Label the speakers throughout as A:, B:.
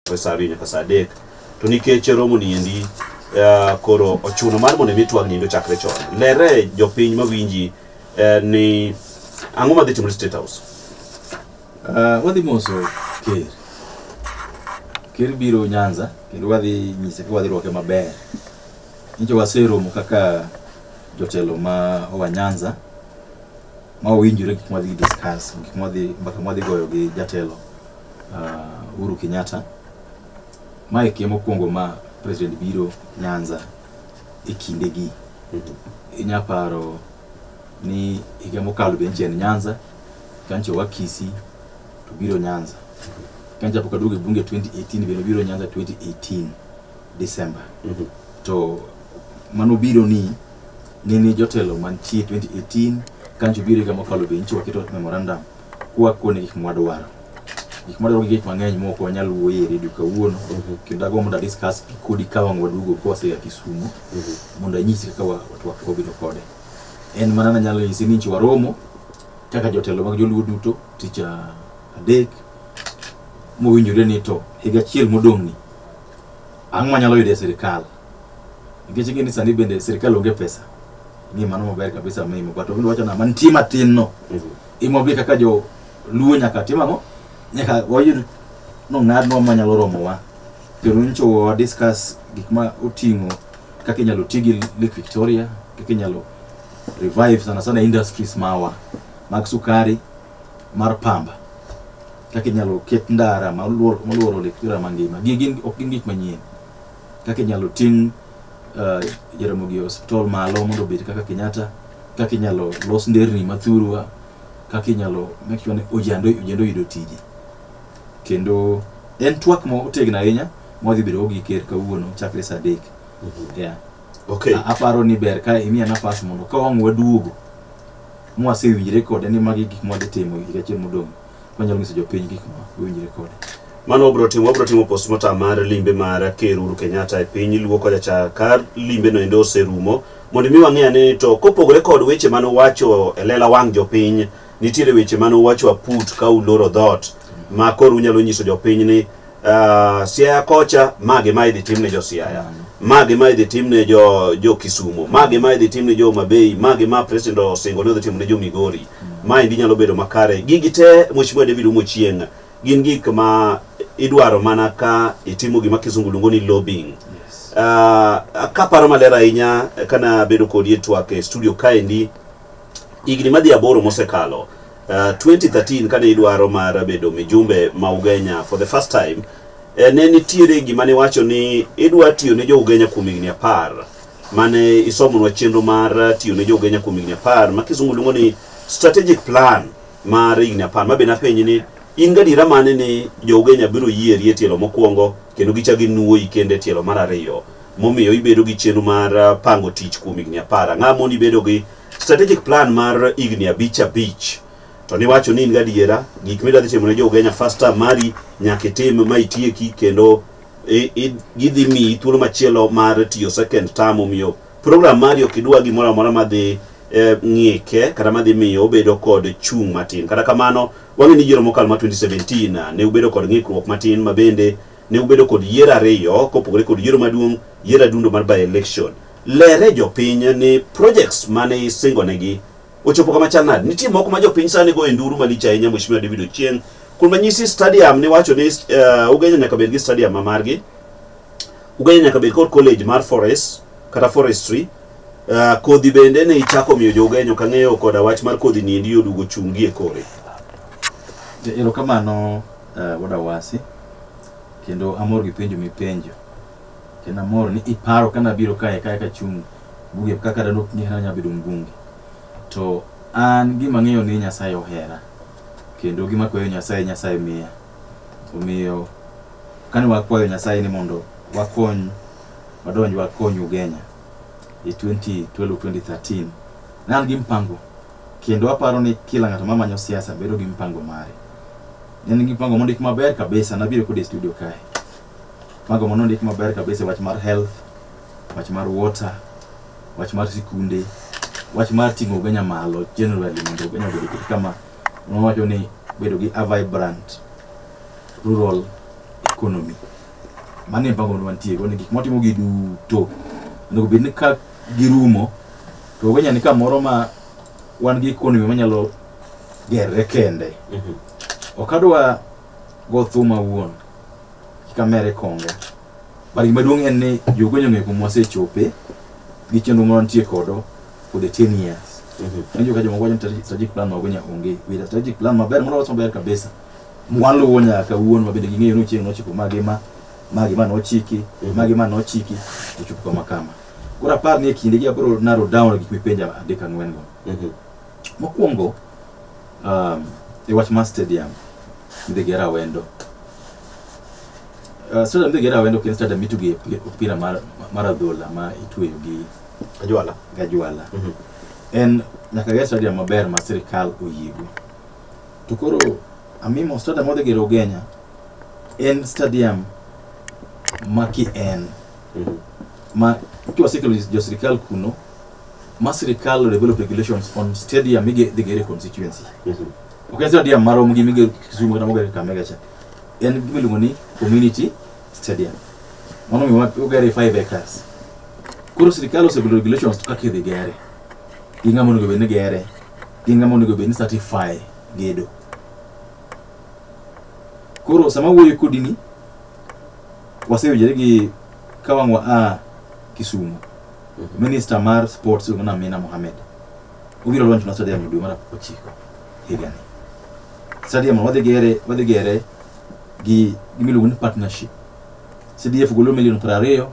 A: e saa ariyo nyaka saa adek to nikech romo ni endi uh, koro ochuno mar mondo mi twag nindo chakre chon lere jopiny mawinji uh, ni ang'o madhi timore state house
B: Ah, wadhi moso ker ker biro nyanza kendo wadhi nyise ka wadhi rwake maber nicho waseromo kaka jotelo ma owa nyanza ma owinjore gik mwadhi discuss gik mwadhi mbaka mwadhi goyo gi jatelo uh, Uhuru Kenyatta. Mae kie mokwongo ma president biro Nyanza e kindegi. Inya paro ni higa mokalo be nche en Nyanza, kancho wa Kisii to biro Nyanza. Kancha pok aduogo e bunge 2018 bende obiro Nyanza 2018 December. To mano biro ni nene jotelo mantie 2018 kancho biro higa mokalo be nche waketo memorandum kwa kuonde gik mwadwaro gik mwadwaro gi gik mang'eny mok wanyal wuoye e redio kawuono kendo agombo mondo adiskas kodi ka wang' waduogo ka waseya kisumo mondo anyisi kaka wa- twak wabedo kode en mana nanyalo nyisi ni nchi waromo kaka jotelo mag joluo duto tich a- adek mowinjore ni to higa achiel modong'ni ang'o manyalo yudo e sirikal nikech ing'e ni sani bende sirikal onge pesa ni mano maber kabisa mimo but obindo wacho na mantie matin no Imobi kaka jo luo nyaka tim ang'o? Nyaka wayud nong'adnwa ma nyalo romowa. Kendo nyicho wa discuss gik ma oting'o kaka inyalo ti gi Lake Victoria, kaka inyalo revive sana sana industries mawa mag sukari, mar pamba. Kaka inyalo ket ndara maluoro maluoro Lake Victoria mangima. Gigi ok gin gik manyien. Kaka inyalo ting' uh, Jaramogi Hospital malo mondo obed kaka Kenyatta, kaka inyalo los nderni ma thurwa, kaka inyalo make sure ni ojande ojande oyudo tije. Kendo en twak ma otegno ahinya ma wadhi bedo gi ker kawuono chakre saa adek. Yeah. Okay. A-
A: aparo ni ber ka
B: imiya nafas mondo ka wang' waduogo mwasewinjre kode ni magi gik mwadhi timo higa achiel modong' manyalo nyiso jopiny gik ma winjre kode mano wabro timo
A: wabro timo postmortem mar limbe mar ker Uhuru Kenyatta e piny luo kocha cha ka limbe no endo oserumo mondo mi wang'e ane ni to kopogore kod weche mane uwacho e lela wang' jopiny nitiere weche mane uwacho aput ka uloro dhoot ma koro unyalo nyiso jopiny ni uh, Siaya kocha ma gima idhi tim ne jo Siaya ma gima idhi tim ne jo jo Kisumo ma gima idhi tim ne jo Mabei ma gima president osingo ne odhi timo ne jo Migori ma endi nyalo bedo makare gigi te mheshimiwa David Umochieng gin gik ma idwaro mana ka itimo gima kisungu luongo ni lobbying uh, kaparo maler ahinya kana bedo kodi e twak e studio kaendi higni madhi aboro mosekalo Uh, 2013 kane idwaro mar bedo mijumbe ma Ugenya for the first time eh, ne nitiere gima ne wacho ni idwa tiyo ne jo Ugenya kuom higni apar mane isomonwa chenro mar eh, tiyo ne jo Ugenya kuom higni apar ma kisungu luongo ni strategic plan mar higni apar ma be napenji ni in gadiera mane ni jo Ugenya biro yieri e tielo mokwongo kendo gichak ginuoyi kendo e tielo mar ariyo momiyo ibedo gi chenro mar eh, pango tich kuom higni apar ang'amoni ibedo gi strategic plan mar higni abich abich to niwacho ni in gadiera gik midwa dhi timo ne jougenya first term mari nyaka itim ma itieki kendo i- i- gidhi miyi thuolo machielo mar tiyo second term omiyo program mari ok idwa gimoro amora madhi eh, ng'ike kata madhi miyo obedo kod chung' matin kata kamano wang'e ni yiero mokalo ma 2017 ne ubedo kod ng'ikruok matin ma bende ne ubedo kod yiero ariyo kopogore kod yiero maduong' yiero adundo mar by election Lere jopiny ni projects mane isingonegi ochopo kama chal nade. Nitie moko ma jopiny sani go e nduru malich ahinya Mheshimiwa David Ochieng. Kuom ranyisi stadium niwacho ni uh, Ugenya nyaka bed gi stadium ma margi. Ugenya nyaka bed kod college mar forest kata forestry. Uh, kodhi bende ne ichako miyo jo-Ugenya ok ang'eyo koda wach mar kodhi ni endi odugo chungi e kore. Erokamano
B: uh, Wada Wasi kendo amor gi penjo mipenjo. Kendo amor ni iparo ka nabiro kae kae kachung' buge kaka dano ok ng'era nya bedo mbunge. To an gima ng'eyo ni Nyasaye ohera kendo gima kwayo Nyasaye Nyasaye miya. Omiyo kane wakwayo Nyasaye ni mondo wakony wadonj wakony Ugenya e 2012 2013 ne an gi mpango kendo aparo ni kila ng'ato mamanyo siasa bedo gi mpango mare. Ne an gi mpango mondik maber kabisa nabiro kode e studio kae. Mago mondo ndik maber kabisa wach mar health, wach mar water, wach mar sikunde, wach mar ting'o Ugenya malo generally mondo Ugenya obed kit kama nowacho ni bedo gi a vibrant rural economy. Mano e mpango mantie go ni gik motimo gi duto onego bed ni ka girumo to Ugenya ni kamoro ma wan gi economy manyalo gerre kende. Mhm. Ok adwa go thum awuon kik amere konga but gima duong' en ni jogonyo ng'eyo kuma wasechope gi chenro ma wantie kodo for the 10 years Anjo ka jomoko wacho ni strategic- strategic plan mago nya onge with a strategic plan maber moro wacho maber kabisa mwan luwo nyaka kawuono ma bende ging'eyo ni chieng' nochiko magi ma magi ma nochiki magi ma nochiki ochopo kama kama koro apar ni e kinde gi abro narrow down gik mipenja adek ang'wen go mokwongo um, e wach mar stadium midhigera rawendo uh, stadium midhigera rawendo ok en stadium mituge opira mar, mar adhola ma itweyo gi ajwala gajwala mm -hmm. en nyaka ger stadium maber ma sirikal oyiego to koro amimo stadium modhi gero ugenya en stadium ma ki en ma ikiwa sikelo jo sirikal kuno ma sirikal develop regulations on stadium mige dhi gere constituency ok en stadium marom gi mige kisumu kata mogere kamega cha en gima iluongo ni community stadium mano miwa ogere 5 acres koro sirikal osegolo regulations to kaka idhi gere gi ng'ama onego bed ni gere gi ng'ama onego bed ni certify gedo koro sama wuoyo kodini waseyudore gi ka wang' wa a Kisumu minister mar sports iluongo ni Amina Mohamed obiro launch na stadium e dwe mar ochiko higani stadium no wadhi gere wadhi gere gi gimiluongo ni partnership CDF golo milion piero ariyo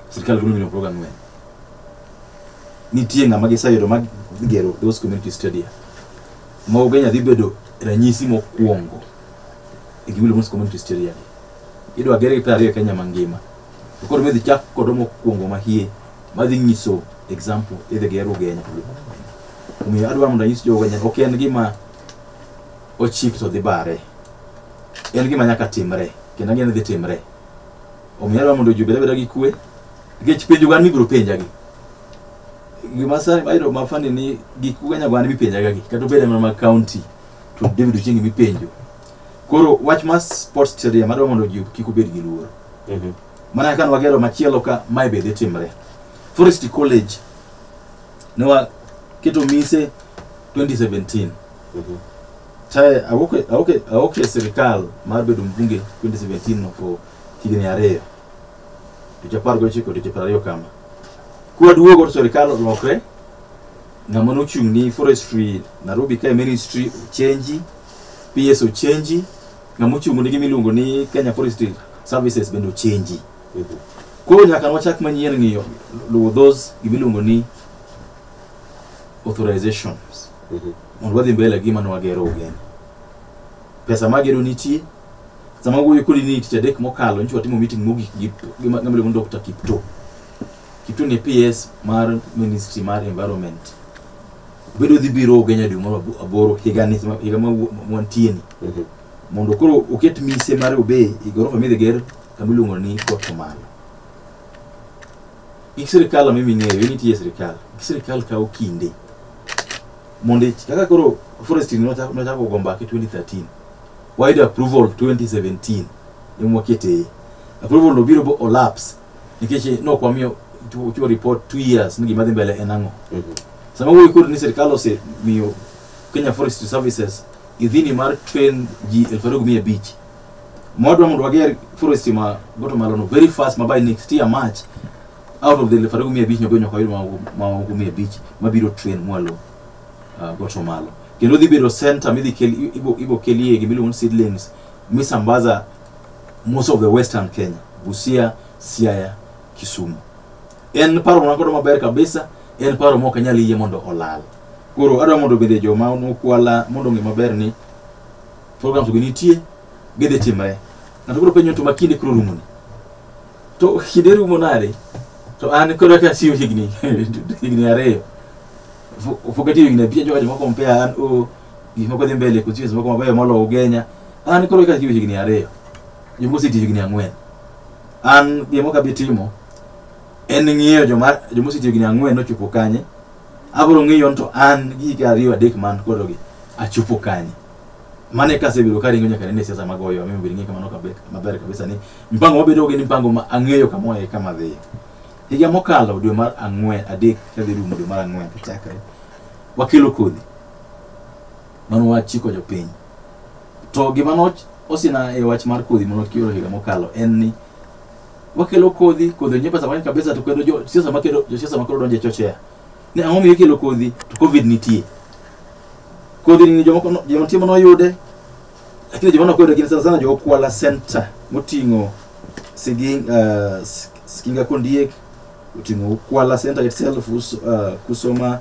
B: sirkal golo milion piero ang'wen nitie ng'ama giseyudo ma gigero those community stadium ma Ugenya dhi bedo ranyisi mokwongo e gimiluongo ni community stadium idwa ger gi piero ariyo e Kenya mangima to koro midhi chak kodo mokwongo mahie madhi nyiso example idhi ger ugenya omiyo adwa mondo anyis jo ugenya ok en gima ochik to dhi bare en gima nyaka timre kendo ang'e ni dhi timre omiyo adwa mondo ji obed abeda gi kwe nikech penjo gan mibiro penja gi gima sani ayudo mafani ni gik ugenya gan mipenjaga gi kata obed mana mag county to david uchengi mipenjo Koro wach mar sports stadium adwa mondo ji kik obed gi luoro. Mhm. Mana ka wagero machielo ka mae be dhi timre. Forest College ne waketo mise 2017 Mhm. tae awoke awoke awoke e sirikal mar bedo mbunge 2017 no for higni ariyo dweche apar gochiko dweche piero ariyo kama kwaduogo to sirikal olokre ng'ama nochung' ni forestry nairobi kae ministry ochenji PS ochenji, ng'ama ochung' nigi miluongo ni Kenya Forestry Services bende ochenji. Koro nyaka wachak manyien ng'iyo luwo those gimiluongo ni authorizations mondo wadhi mbele gi mano wagero ugeni. Pesa magero nitie, sama wuoyo kodi ni tich adek mokalo nyicha watimo meeting mogik gi gi ma- ng'ama iluongo ni Dr. Kipto. Kitu ni PS mar Ministry mar Environment. Bedo dhi biro Ugenya dwe mar abo- aboro higa ni higa ma wu- ma wantie ni. Mhm. Mondo koro oket mise mar obey e gorofa midhi ger kama iluongo ni Port Omala. Gik sirikal ma mimi ng'eyo ni tiye sirikal. Gik sirikal kawo kinde. Mondo ich- kaka koro forestry nochako nochako go mbaka 2013. Wayudo approval 2017. Emwa keteye. Approval no biro bo olapse nikech eh, nok wamiyo chiwo chiwo report two years ni gima dhi mbele en ang'o sama wuoyi kod ni sirikal osemiyo kenya forestry services idhini mar train ji elfu ariyo gi mia abich mwadwa mondo wager forestry ma goto malono very fast ma by next year march out of the elfu ariyo gi mia abich nyabedo nyaka wayud mamoko mia abich mabiro train mwalo uh, goto malo kendo dhi bedo center midhi kel ibo, ibo kelie gimiluongo ni seedlings misambaza most of the western kenya busia siaya kisumu en paro mwana kodo maber kabisa en paro mok anyal yie mondo olal koro adwa mondo bende joma nokwala mondo ong'e maber ni programs go nitie gidhi timre ng'ato koro penjo to ma kinde koro rumoni to kinde rumo nade to an koro ka siyo higni higni ariyo Fu- fukatiyo higni abich jokajo moko mpea an o gik moko dhi mbele kod siasa moko mabeyo moloyo ugenya an koro katiyo higni ariyo jomoko osetiyo higni ang'wen an gima ok abi timo en ng'iyo joma joma osetiyo higni ang'wen nochopo kanye abiro ng'iyo ni to an gi higni ariyo adek man kodogi achopo kanye mano e kasebedo ka ringo nyaka nene siasa magoyo amiyo bedo ng'e kamano kabe- maber kabisa ni mpango mabedo gi ni mpango ma ang'eyo kama e kama dhiye higa mokalo dwe mar ang'wen adek kadhi rumo dwe mar ang'wen to chakre wakelo kodhi mano wach chiko jopiny to gima no osina e wach mar kodhi mano kioro higa mokalo en ni wakelo kodhi kodhi nyepa samani kabisa to kendo jo siasa makelo jo siasa makelo donje chochea ni ang'o mi ikelo kodhi to covid nitie kodhi ni jomoko no- joma timo noyude lakini joma nokoyude gin sana sana jo Kwala Center moting'o Siging, uh, Sikinga Kondiek oting'o Kwala Center itself us, uh, Kusoma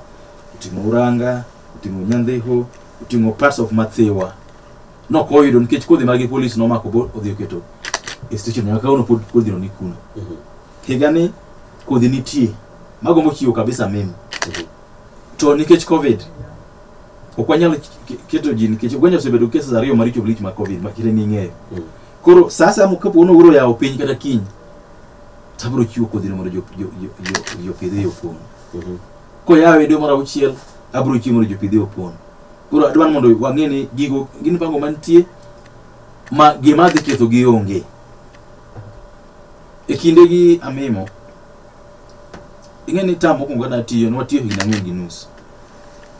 B: oting'o uranga oting'o nyandhiho oting'o parts of mathiwa nok oyudo nikech kodhi magi polis nomako bo odhi oketo e station nyaka kawuono pod kodhino ni kuno higa ni kodhi nitie mago mochiwo kabisa mimi to nikech covid ok wanyal ke- keto ji nikech uganda osebedo cases ariyo maricho lich mag covid makire ning'eyo koro sasa kapo ni uro yawo piny kata kiny tabro chiwo kodhino mondo jo- jo- jo- jo- jopidhe yo kuno koyawe dwe mar auchiel abiro chiwo mondo jopidhe opon koro adwa ni mondo wang'e ni gigo gin pango mantie ma gima dhi ketho gi onge e kinde gi amimo ing'e ni tam mokwongo kane atiyo ne watiyo higni ang'wen gi nus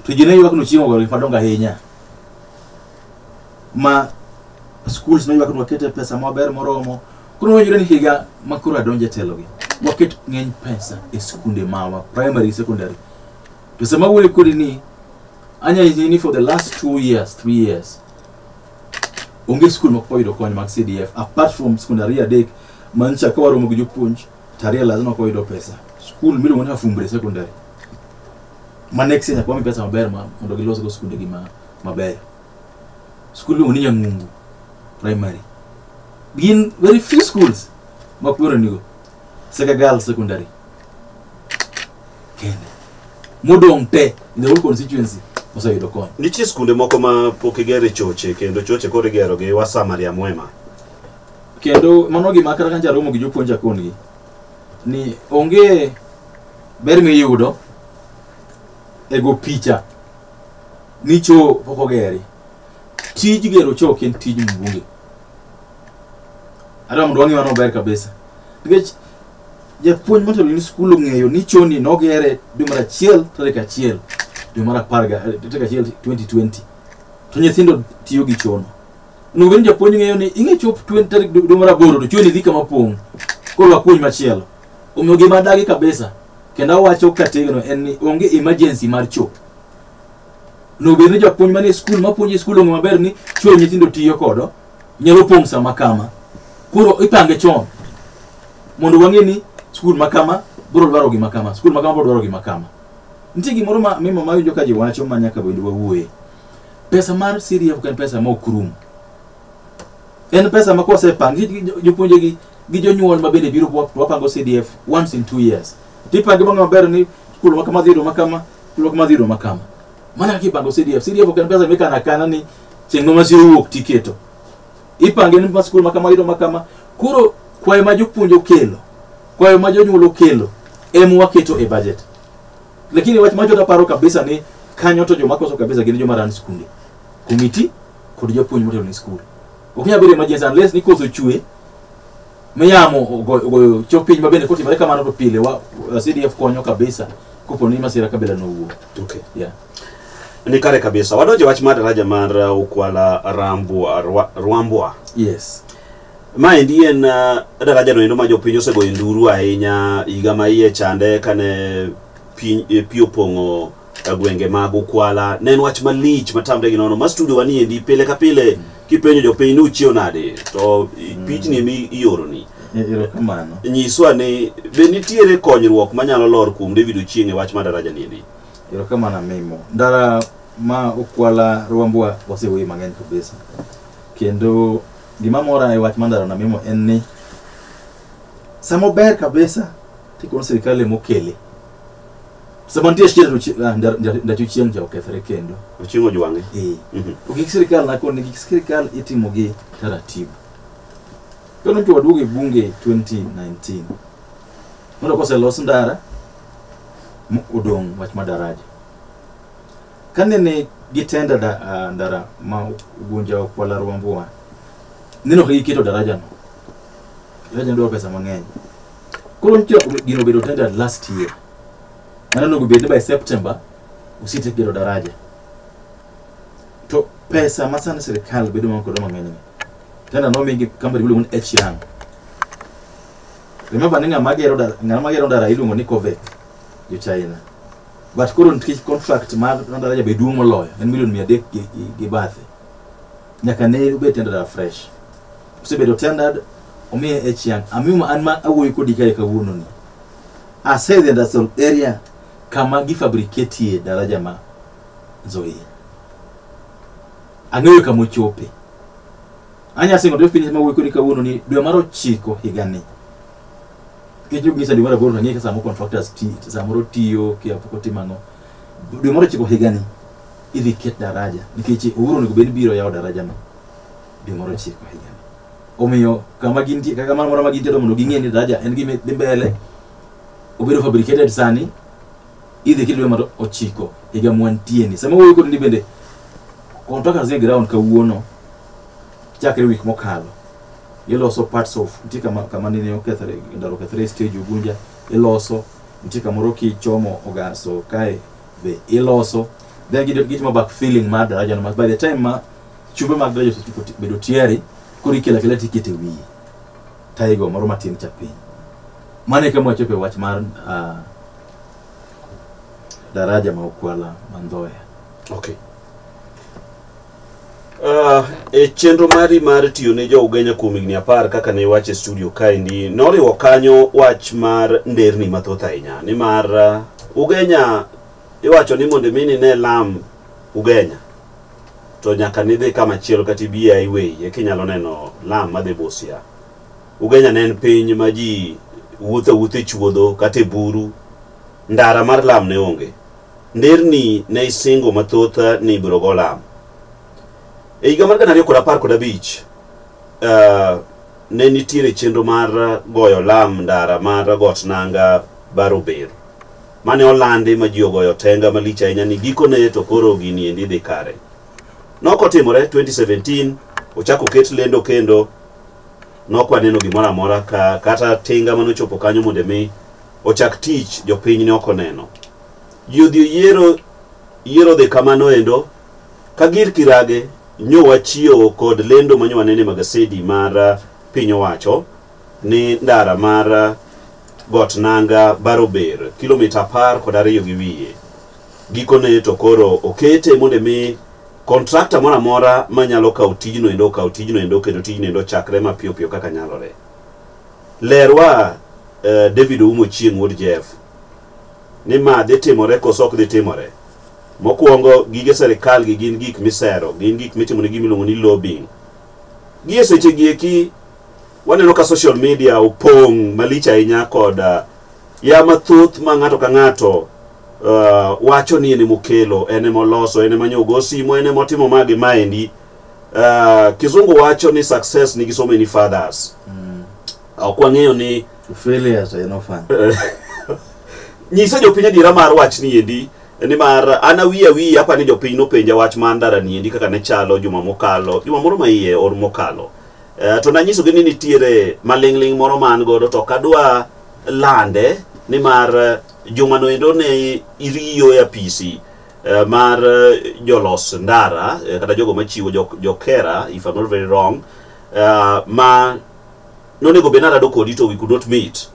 B: to ji ne ywak nochiemo gore madongo ahinya ma schools noyuak ni wakete pesa maber moromo koro wayudo ni higa ma koro adonje telogi waket ng'eny pesa e skunde mawa primary secondary to sama wuoyo kodi ni anya nyisi ni for the last two years three years onge skul ma koyudo kony mag cdf apart from skund ariyo adek ma nyicha ka waromo gi jopuonj to ariyo lazima koyudo pesa skul miluongo ni afumbre secondary ma next year nyaka wami pesa maber ma mondo gilosgo skundegi ma mabeyo skul iluongo ni nyang'ungu primary gin very few schools ma kwero nigo seka girl secondary kende modong' te in the whole constituency oseyudo kony nitie skunde moko ma
A: pok igere choche kendo choche koro igero gi wasamaria mwema kendo
B: mano gima kata ka njaromo gi jopuonj akondgi ni onge ber miyudo e go picha ni choo pok ogeri tij gero choo ok en tij mbunge hata mondo wang'e mano ber kabisa nikech japuonj motelo ni skul ong'eyo ni choo ni nogere dwe mar achiel tarik achiel dwe mar apar ga- eh, tarik achiel 2020 to nyithindo tiyo gi chono onego bed ni japuonj ng'eyo ni ing'e chop 20 tarik dwe dwe mar aboro to choo ni dhi kama pong' koro wapuonj machielo Omiyo gima adagi kabisa kendo awacho kategno en ni onge emergency mar choo. Nobed ni japuonj man e skul mapuonjo e skul ong'e maber ni choo nyithindo tiyo kodo nyalo pong' sama kama. Koro ipange chon mondo wang'e ni skul ma kama biro dwaro gima kama, skul ma kama biro dwaro gima kama. Nitie gimoro ma mimo ma winjo ka ji wacho ma nyaka bende wawuoye. Pesa mar CDF ok en pesa ma ok rum. En pesa ma kosepangi jopuonjegi gi jonyuol ma bende biro wap- wapango cdf once in two years tipange mang'e maber ni kulo ma kama dhi romo kama kulo kama dhi romo kama mana kaka ipango cdf cdf ok en pesa mikano akana ni chieng' ma masira owuok tiketo ipange ni ma skul ma kama yudo ma kama koro kwayo ma jopuonj okelo kwayo ma jonyuol okelo em waketo e budget lakini wach macho taparo kabisa ni kanyo to joma koso kabisa gin joma ran skunde komiti kod japuonj motelo ni skul ok nyal bedo emergency unless ni koso chwe miyamo ogo- ogoyo chok piny ma bende kotimore kamano to pile wa wa- CDF konyo kabisa kopo ni masira kabila nowuo Okay.
A: yeah
B: Ni kare
A: kabisa. Wadonje wach mar daraja mar uh, Ukwala Rambwa Rwa- Rwambwa. yes
B: Maendi
A: en uh, daraja no endo ma jopiny osegoyo nduru ahinya higa ma iye chande kane piny eh, pi opong'o e gwenge mag Ukwala. Ne en wach malich matamre gi nono. Ma studio waniendi pile ka pile kipenjo jopiny ni uchiew nade to i- pichni emi ioroni. Erokamano.
B: Nyiswa ni
A: be nitiere konyruok manyalo lor kuom David Ochieng' e wach ma daraja niendi. Erokamano amimo.
B: Ndara ma Ukwala Rwambwa wasewuoye mang'eny kabisa. Kendo gima mora e wach ma ndara na mimo en ni sama ober kabisa tikono sirkal emokele sama nitie chiel to chi- ah, nda- nda- ndacho chieng' ja okethre kendo Ochiwo jwange. Eh.
A: Mhm. To gik sirikal
B: nakoni gik sirikal itimo gi taratibu. Kano to waduogo e bunge 2019. Mondo kose los ndara m- odong' wach ma daraja. Kane ne gitenda da, ah, ndara ma ugunja okwala rwambuwa. Neno ka giketo daraja no. Daraja no dwaro pesa mang'eny. Koro nitie ok gino bedo tender last year. Mano nogo bed ni by September usite gero daraja. To pesa ma sani sirkal bedo man kodo mang'eny ni. Tender nomigi company miluongo ni H Young. Remember ni ng'ama gero daraja ng'ama gero daraja iluongo ni Covec jo China. But koro nikech contract mar daraja be duong' moloyo en milion mia adek gi, gi, gi bathe. Nyaka ne obed tender daraja fresh. osebedo tendered omiye e chiang amiyo an ma awuoyo kodi kae kawuono ni ase the industrial area kama gifabriketie daraja ma nzoia ang'eyo kama ochope anya singo to piny ma wuoyo kodi kawuono ni dwe mar ochiko higa ni nikech ok nyisa dwe mar aboro to ang'eyo ka samoro contractors ti samoro tiyo kia pok otimo ang'o dwe mar ochiko higa ni idhi ket daraja nikech owuoro onego bed ni biro yawo daraja no dwe mar ochiko higani omiyo kama gintie kaka mano moro ma gintie to mondo ging'e ni daraja en gima dhi mbele obedo fabricated sani idhi kidwe mar ochiko higa mwantieni sama wuoyo kodi ni bende contractors ni ground kawuono chakre wik mokalo iloso parts of nitie kama kama nene okethre ndalo okethre stage ugunja iloso nitie kamoro kichomo ogaso kae be iloso then gid- gitimo back filling mar daraja no ma by the time ma Chube mag Gleason osechopo ti- bedo tiari koro ikelo akela tikete wiye taigo moro matin cha piny mano e kama wachopo e wach mar ah, daraja ma okwala mandhoya Okay.
A: Uh, e chenro mari mar tiyo ne jo Ugenya kuom higni apar kaka ne iwacho e studio kaendi noriwo kanyo wach mar nderni mathoth ahinya nimar uh, Ugenya iwacho ni mondo mi nine lam Ugenya to nyaka nidhi kama chielo kata ibi e highway eka inyalo neno lam madhi Busia. Ugenya ne en piny ma ji wuotho awuotha e chuodho kata e buru. Ndara mar lam ne onge. Nderni ne isingo mathoth ni ibiro go lam. E higa mar gana ariyo kod apar kod abich, eh, ne nitiere chenro mar goyo lam ndara mar got nanga Barober. mane olandi ma ji ogoyo tenga malich ahinya ni gikone to koro gini endi dhi kare. Nokotimore 2017 ochako ket lendo kendo nokwaneno gimoro amora ka kata tinga mane ochopo kanyo mondo mi ochak tich jopiny ne ok oneno. Ji odhi oyiero yiero dhi kamano endo ka gir kirage nyowa chiewo kod lendo manyowa nene magasedi mar piny owacho ni ndara mar got nanga barober kilomita apar kod ariyo gi wiye gikone to koro okete mondo mi kontrakta moro amora manyalo kawo tijno endo okawo tijno endo kendo tijno endo chakre mapiyo piyo kaka nyalore lerwa uh, david oumo chieng wuod jeff ni ma dhi timore koso ok dhi timore mokwongo gige serikal gi gin gik misero gin gik mitimo ne gimiluongo ni lobbying gi e seche gi eki Waneno ka social media opong' malich ahinya kod uh, ya mathoth ma ng'ato ka ng'ato uh, wacho ni en emokelo, en emoloso, en emanyo ogo simo, en emotimo ma gi maendi. Uh, kizungu wacho ni success nigi so many fathers. Ok wang'eyo ni Failure to en
B: ofan.
A: nyise jopiny adiera mar wach ni endi nimar an awi awi apa ni jopiny nopenja wach mar ndara ni endi kaka ne chalo juma mokalo juma moro ma iye or mokalo Eh, to nanyisogi ni nitiere maling'ling' moro ma an godo to kadwa lande nimar eh, juma noendo ne iriyo e apisi eh, mar eh, jolos ndara eh, kata jogo machiwo jok- jokera if I'm not very wrong eh, ma nonego bed narado kodi to we could not meet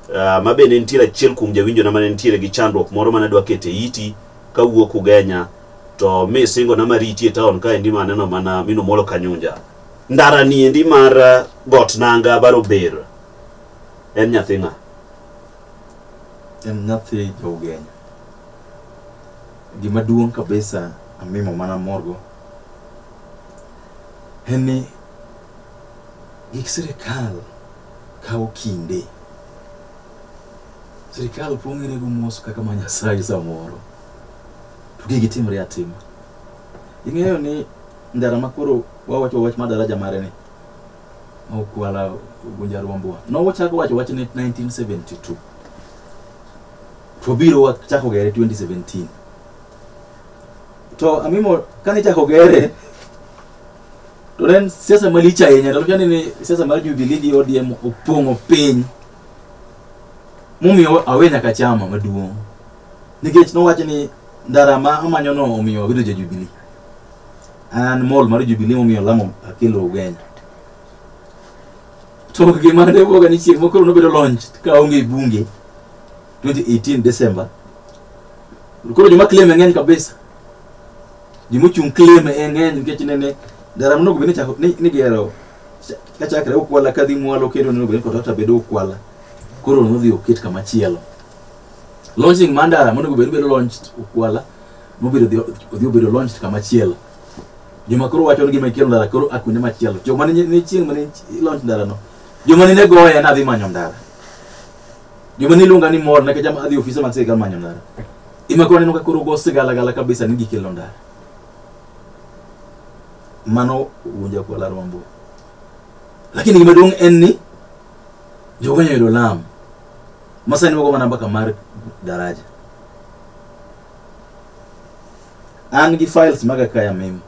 A: uh, ma bende nitiere achiel kuom jawinjona mane nitiere gi chandruok moro mane adwa kete iti kawuok ugenya to mi singona mariti e taon kaendi maneno mana minomolo kanyunja ndara ni endi mar uh, got nanga baro ber en nyathi ng'a en
B: nyathi jougenya gima duong' kabisa amimo mana morgo en ni gik sirikal kawo kinde sirikal pong'ere go mos kaka ma nyasaye samoro to gigi timre atima ing'eyo ni ndara ma koro wawacho wach ma daraja mare ni okwala gunja ruombwa nochako wacho wach ni 1972 to biro wachako gere 2017 to amimo kane chako gere to ne en siasa malich ahinya to chani ni siasa mar jubilee gi odm opong'o piny momiyo awe nyaka chama maduong' nikech nowacho ni ndara ma amanyono omiyo abedo ja jubilee an mall mar jubilee momiyo lamo akelo ugenya to gima ne wuoga ni chieng' mokoro nobedo launch ka onge bunge 2018 December koro joma claim ng'eny kabisa joma ochung' claim e ng'eny nikech nene garam nogo bende chako ni ni gero cha- ka chakre ukwala ka dhi mwalo kendo nogo bende kotata bedo ukwala koro nodhi oket kama chielo launching mandara monego bed bedo launched ukwala mobedo odhi- odhi obedo launched kama chielo joma koro wacho ni gima ikelo ndara koro akunde machielo joma ni ni chieng' mane launch ndara no joma ni ne goya ne adhi manyo ndara joma ni luonga ni mor nikech ama- adhi ofise mag sirikal manyo ndara ima koro aneno ka koro go sigalagala kabisa ni gikelo ndara mano wuonja kwa la rombo lakini gima duong' en ni jogo nyoyudo lam masani wago mana mbaka mar daraja an gi files maga kaya mim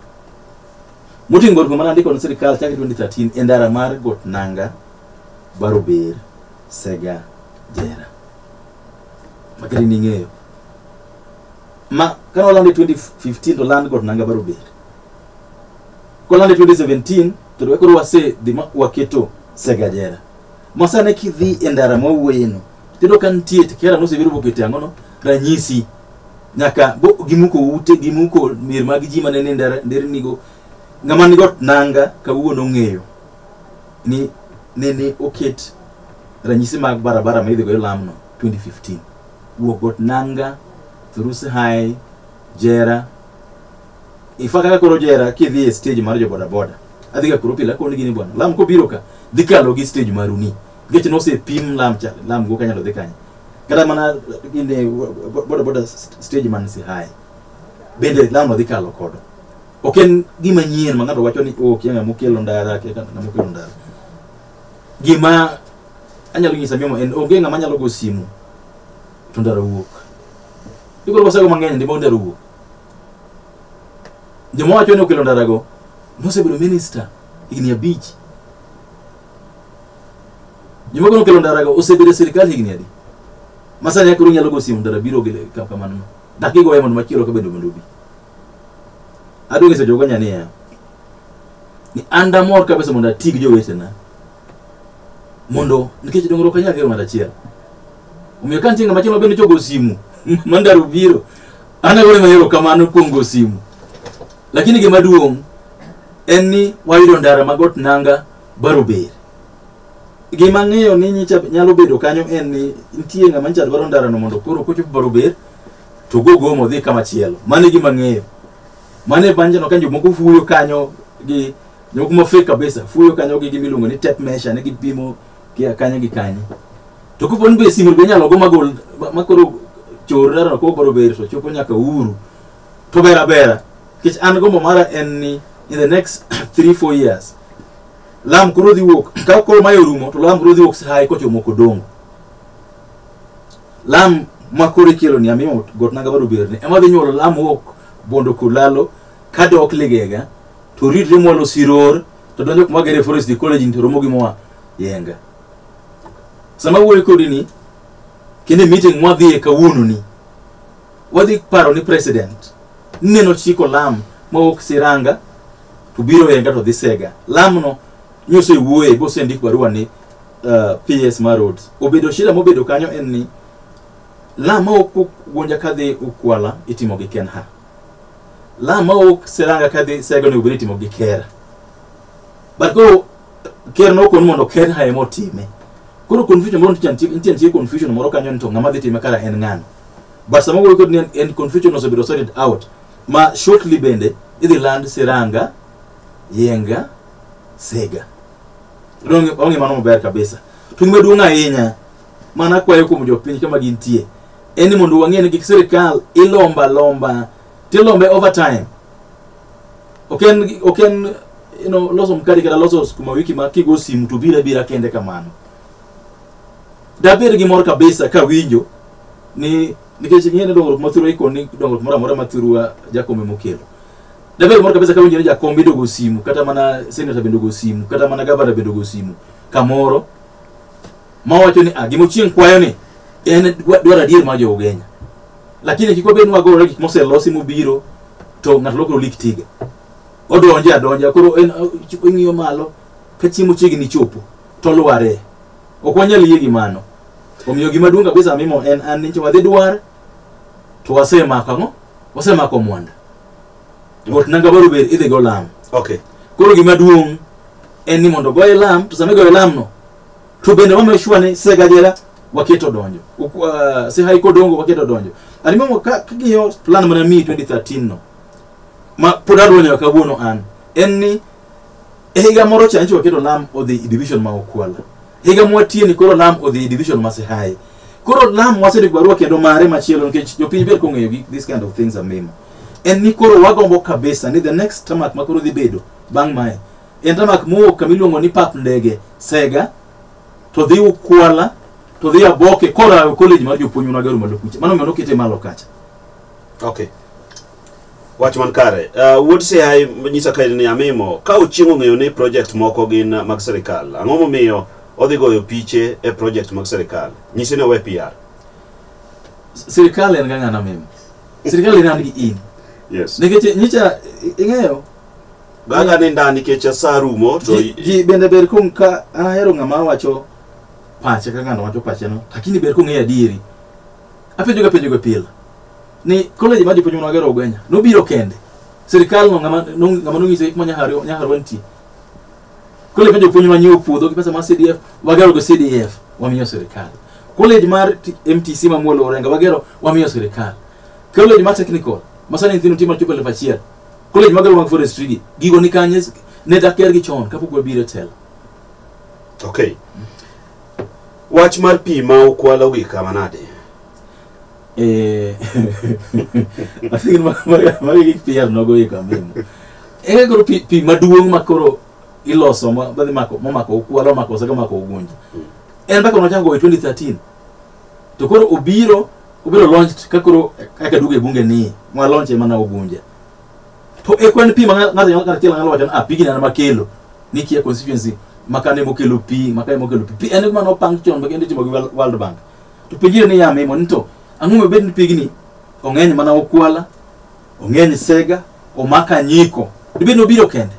B: moting'o barua mane andiko ne sirikal chakre 2013 e ndara mar got nanga barober sega jera makati ning'eyo ma kane olande 2015 to land got nanga barober kolande 2017 to to koro wase dhi ma waketo sega jera masane kidhi e ndara mwawuoyeno Tero kan tie kera no sebedo bokete angono ranyisi nyaka bo gimuko ute gimuko mir mag ji mane ne ndara- nderni go ngama ni got nanga kawuono ng'eyo ni ne ne oket ranyisi mag barabara ma idhigo lamno 2015 wuok got nanga thurusi high jera ifa kaka koro jera kidhi e stage mar jo bodaboda adhiga kuro pile akoni gini bwana lam kobiro ka dhi kalo gi stage maruni geche nosepim lam cha lam go kanyalo dhi kanye kata mana ine boda boda stage man si high bende lam odhi kalo kodo ok en gima nyien ma ng'ato wacho ni ok yanga mokelo ndara ke kana mokelo ndara gima anyalo nyisa mimo en onge ng'ama nyalo go simu to ndara wuok ikoro wasego mang'eny ndimo ndara wuok joma wacho ni okelo ndara go nosebedo minister higni abich Joma koro kelo ndarago osebedo e sirkal higni adi? Ma sani akoro nyalo go simu ndara biro gi ka kamano. Dak igoye mondo machielo ka bedo mondo obi. Adwong iso jogo nyani ya. Ni anda mor kabisa mondo ati gi jowetena. Mondo nikech dongruok anyalo kelo ng'ato achiel. Omiyo ka nitie ng'ama chielo bende chogo simu ma ndara obiro. An agone mahero kamano kuom go simu. Lakini gima duong' en ni wayudo ndara ma got nanga barober. Gima ang'eyo ni nyicha nyalo bedo kanyo en ni nitie ng'ama nyicha dwaro ndarano mondo koro kochop barober to go gomo odhi kama chielo. Mano e gima ang'eyo. Mano e banjano ka jomoko fuyo kanyo gi jomoko mafek kabisa fuyo kanyo gi gima iluongo ni tape measure ne gipimo gi kanye gi kanye. To kopo ni be simu be inyalo go magol ma koro chor ndarano kowo barober to chopo nyaka Uhuru to ber abera nikech an gombo mara en ni in the next 3 4 years lam koro dhi wuok ka koro mae orumo to lam koro dhi wuok sai kochomo kodongo lam ma koro ikelo ni amimo got naga bado berne ema dhi nyuolo lam wuok bondo kulalo ka dok ligega to ridre mwalo siror to donjo kuma gere forest di college ni to romo gi moa yenga sama wuoyo kodi ni kinde meeting mwadhiye kawuono ni wadhi paro ni president neno chiko lam mawuok siranga to biro enga to dhi sega lamno nyose wuoye bosendik barua ni uh, ps mar roads obedo shida mobedo kanyo en ni lam mawuok gwonja kadhi ukwala itimo gi kenha lam mawuok siranga kadhi sega onego bed ni itimo gi kera but koro ker nokon mondo ker ha ema otime koro confusion moro nitie nitie- nitie nitie confusion moro kanyo ni to ng'ama dhi time kara en ng'ano but sama wuoyo kod ni en- en confusion osebedo sorted out ma shortly bende idhi land siranga yenga sega Onge- onge mano maber kabisa to gima duong' ahinya mana kwayo kuom jopiny kama gintie en ni mondo wang'e ni gik sirikal ilomba lomba tilombe over time ok en ok en you know, loso mkate kata loso skuma wiki ma kigo simu to bira bira kende kamano dabed gi mor kabisa ka winjo ni nikech ing'e ni dongruok mathurwa ikon ni dongruok moro amora mathurwa jakombe mokelo dabed mor kabisa ka winjo ni jakom bende ogo simu kata mana senata bende ogo simu kata mana gavana bende ogo simu kamoro ma wacho ni ah, gimochieng' kwayo ni en dwa- dwaro adier mar jo ugenya lakini kik wabed ni wagore gik moselosi mobiro to ng'ato lokro lik tiga odonje adonja koro en ing'iyo malo ka chiemo chiegni chopo to lware ok wanyal yie gi mano omiyo gima duong' kabisa mimo en an ni wadhi dwar to wasemako ang'o wasemako mwanda got nanga baro ber idhi go lam okay koro
A: gima duong'
B: en ni mondo goye lam to sama igoyo lamno to bende wame sure ni segajera waketo donjo Uk- uh, sihai kodongo waketo donjo animango kagiyo plan mana mi 2013 no ma pod adwa nyaka kawuono an en ni e higa moro cha nchi waketo lam odhi i division ma okwala higa mwatie ni koro lam odhi i division ma sihai koro lam wasedo barua kendo mare machielo nikech jopiny ber kong'eyo gi- this kind of things amimo en ni koro wagombo kabisa ni the next tamak ma koro dhi bedo bang' mae En tamak mowuok kama iluongo ni pap ndege Sega to dhi Ukwala to dhi Aboke korawe college mar jopuonj ma gero malo kucha. Mano mano kete malo kacha. Okay.
A: Wach man kare. Uh, wuod Sihai nyisa ka ni amimo ka ochieng' ong'eyo ni project moko gin uh, mag sirkal. Ang'o momiyo odhi goyo piche e project mag sirkal? Nyise ni owe PR. S- Sirkal
B: en ga ng'ana memo. Sirkal en an gi in. Yes. Nikech
A: nyicha
B: ing'eyo Bang'
A: aninda nikech asa rumo to Ji- ji bende ber kong
B: ka an ahero ng'ama wacho pache ka ng'ano wacho pache no lakini ber kong'eyo adieri apenjoga penjoga pile ni college mar jopuonj manwagero ogwenya nobiro kende sirikal no ng'ama no- ng'ama nong'iso hik ma nyahari nyahari wantie college mar jopuonj manyo puodho gi pesa mar cdf wagero go cdf wamiyo sirikal college mar T- mtc mamuolo orenga wagero wamiyo sirikal college mar technical masani nyithindo timo chopo elfu achiel College mag Ruang Forestry gi gigo ni kanye ne dakier gi chon kapok wabiro e telo.
A: Okay. Wach mar pi ma ukwalo gi kama nade?
B: Eh. I think ma ma ma gi pi yar nogo yi kama. Eh goro pi pi maduong' ma koro iloso ma badhi mako ma mako ukwalo mako saka mako ugunja. En bako nochako go e 2013. to koro obiro obiro launched ka koro kaka duge bunge ni ma launch ema na ogunja to e kwan pi ma ng'a- ng'ato nyalo kata chiel ng'alo wacho ni ah pigni an makelo ni kia constituency makane mokelo pi makane mokelo pi pi en kuma nopang chon ma kendo itimo gi World- world bank to penjire ni yame mo ni to ang'o ma bed ni pigni ong'eny mana okwala ong'eny sega omaka nyiko dibed ni obiro kende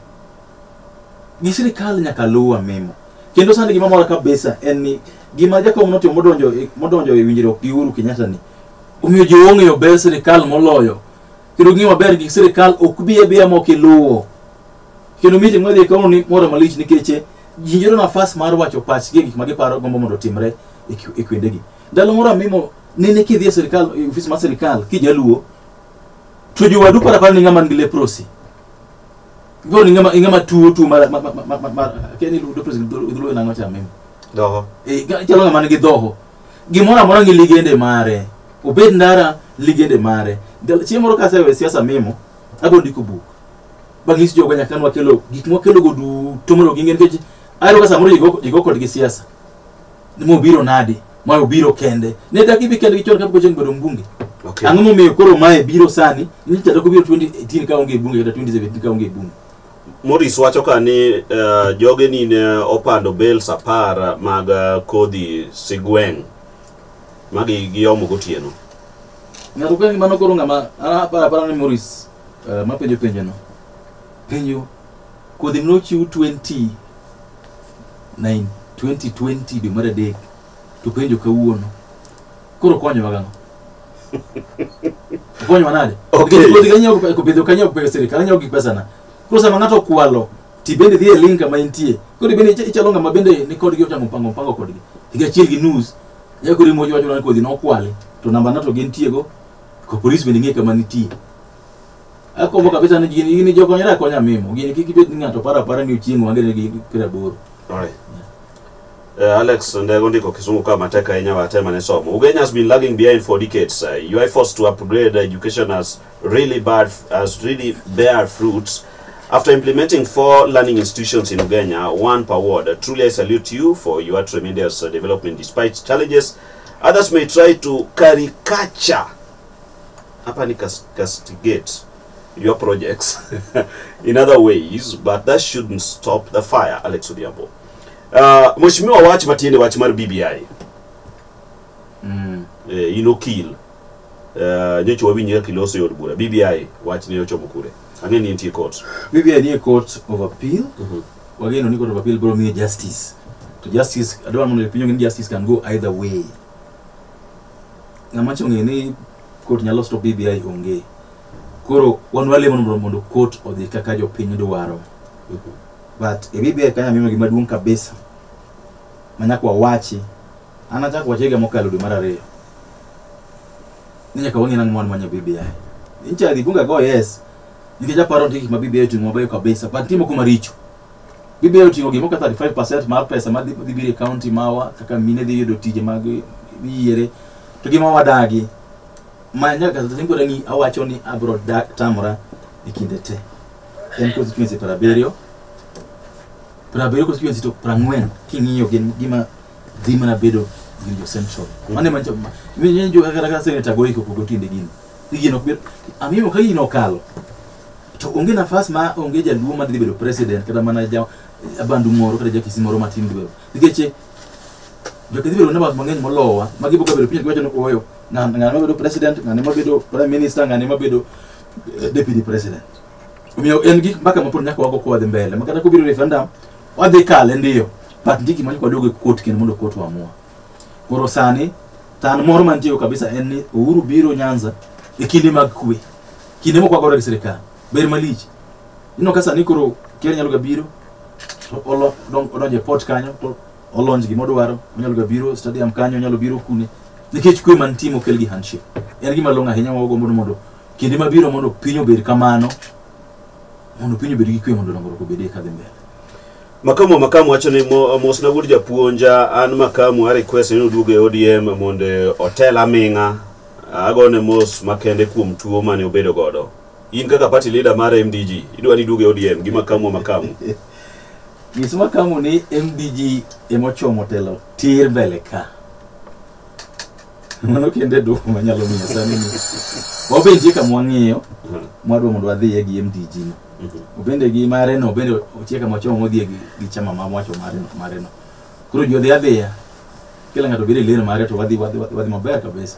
B: gi sirikal nyaka luwa memo kendo sani gima mora kabisa en ni gima jakom notimo modonjo e- modonjo e winjruok gi Uhuru Kenyatta ni omiyo ji ong'eyo ber sirikal moloyo kendo ging'eyo maber gi sirikal ok bi abiya mok iluwo kendo meeting madhi kawo ni moro malich nikech eh, ji yudo nafas mar wacho pachgi e gik ma giparo gombo mondo otimre e ki- e kwendegi ndalo moro amimo nene kidhi e sirikal e ofis mar sirikal kijaluo to jowadu parapara ni ng'ama nigi leprosi Go ni ngama ngama tuo tuo mar mar mar mar mar keni lu dopes gidulu na ngocha mimi. Doho. Eh
A: ga- chalo ngama nigi
B: dhoho. Gimoro amora ngi ligende mare. Obed ndara ligende mare. Ndalo- Chieng' moro ka asewe siasa mimo, abiro ndiko buk. Bang' nyiso jogo nyaka nwa kelo gik mwa kelo go duto mondo ging'e nikech ayudo ka samoro jigo jigo kodgi siasa. ni mobiro nadi ma obiro kende ne dagi bi kende gi chon kapok ocheng bedo mbunge Okay. ang'o momiyo
A: koro mae
B: biro sani ni chatoko biro 2018 ka onge bunge kata 2017 ka onge bunge Morris wacho
A: ka ni eh, joge ni ne opando bales apar mag eh, kodhi sigweng' ma gi- giomo gotieno. ng'ato
B: ka mano koro ng'ama apara apara ni moris eh, mapenjo penjono penjo Kodhi nochiw 20 9 2020 dwe mar adek to penjo kawuono. Koro konyowa gang'o? Konyowa nade? Okay. Nikech Kodhi kanyiewo gi-
A: kopidho
B: kanyiewo gi pesa sirikal, anyiewo gi pesana. Koro sama ng'ato okwalo ti bende dhi e link kama intie. Koro bende icha- ichalo ng'ama bende ni kodgi ochamo mpango mpango kodgi. Higa achiel gi nus. Ya koro imo wacho ni kodhi nokwale to namba na to gintiego. Ko polis bende ng'e kama nitie. Akombo kabisa ni gini gini jokonyre akonya mimo. Gini kik ibed ni ng'ato paro apara ni ochieng' wange ne gi piero aboro. Alright.
A: Eh, Alex Ndego ndiko kisungu kama matek ahinya watema ne somo. Ugenya has been lagging behind for decades. Uh, your efforts to upgrade education has really bad has really bear fruits. After implementing four learning institutions in Ugenya, one per ward, uh, truly I salute you for your tremendous uh, development despite challenges. Others may try to caricature hapa ni cas- castigate your projects in other ways but that shouldn't stop the fire alex odhiambo uh, mheshimiwa wach matiende wach mar bbi Mm. eh, in okil uh, nyocha wawinjga kiloso e od bura bbi wach ne ochomo kure ang'e ni nitie court BBI nie court
B: of appeal. Wageno ni court of appeal bro miye justice. To justice adwa mondo pinyo ni justice can go either way. Ng'ama chonge ni Court nyalo stop BBI onge. Koro wan walemo mondo mondo court odhi kaka jopiny dwaro. But e BBI kanyo mimo gima duong' kabisa manyaka wawachi an achako wache higa mokalo dwe mar ariyo ni nyaka wang'e nang'o manyo BBI. Incha dhi bunga go yes nikech aparo nitie gik ma BBI timo mabeyo kabisa but nitie moko maricho. Gibiro ting'o gimoro kaka 35% mar pesa ma dhi dhi biro e kaunti mawa kaka mine dhi yudo tije mag yiere to gi ma wadagi ma nyaka sasa singora ni awacho ni abro da- tamora e kinde te en constituency para abiriyo para abiriyo constituency to para ang'wen king'iyo gin gima dhi mana bedo winjo central mane mancho minjo kaka kaka senator goiko kogo tinde gini gino ok bed amimo ka gino okalo to onge nafas ma onge jaluo ma dhi bedo president kata mana ja abandu moro kata ja kisi moro matin dhi bedo nikech eh, jokisi bedo nabas mang'eny molowa ma giboka bedo piny giwacho ni oyo ng'an- ng'ane mabedo president ng'ane mabedo prime minister ng'ane mabedo eh, deputy president omiyo en gik mbaka mapod nyaka wago kwadhi mbele ma kata kobiro referendum wadhi kale ndiyo but ndiki manyaka waduogo e court kendo mondo court wamua Koro sani tan moro mantie kabisa en ni Uhuru biro Nyanza e kinde mag kwe. Kinde moko agore gi sirkal. Ber malich. Ino ka sani koro ker nyalo ga biro to olo don- odonjo e port kanyo to olonj gima odwaro onyalo ga biro stadium kanyo onyalo biro kune nikech kwe mantie mokel gi handshake en gima long'o ahinya ma wagombo ni mondo kinde mabiro mondo piny obed kamano mondo piny obed gi kwe mondo dongruok obedie kadhi mbele Makamu
A: Makamu wacho ni mo- mosna wuod japuonja an Makamu a request ni oduog e ODM mondo otel aming'a agone mos makende kuom tuo mane obedo godo in kaka party leader mar MDG idwa ni iduog e ODM gi Makamu Makamu
B: nyis makamu ni mdg emochomo telo tir mbele ka mano kende duoko manyalo miyo sani ni wabentie kama wang'iyo mwadwa mondo wadhiye gi mdg no obende gi mare no obende otie kama wachomo modhiye gi, gi chama ma mwacho mare no- mare no koro ji odhi adhiya kila ng'ato bedo e lane mare to wadhi wadhi wadhi wadhi maber kabisa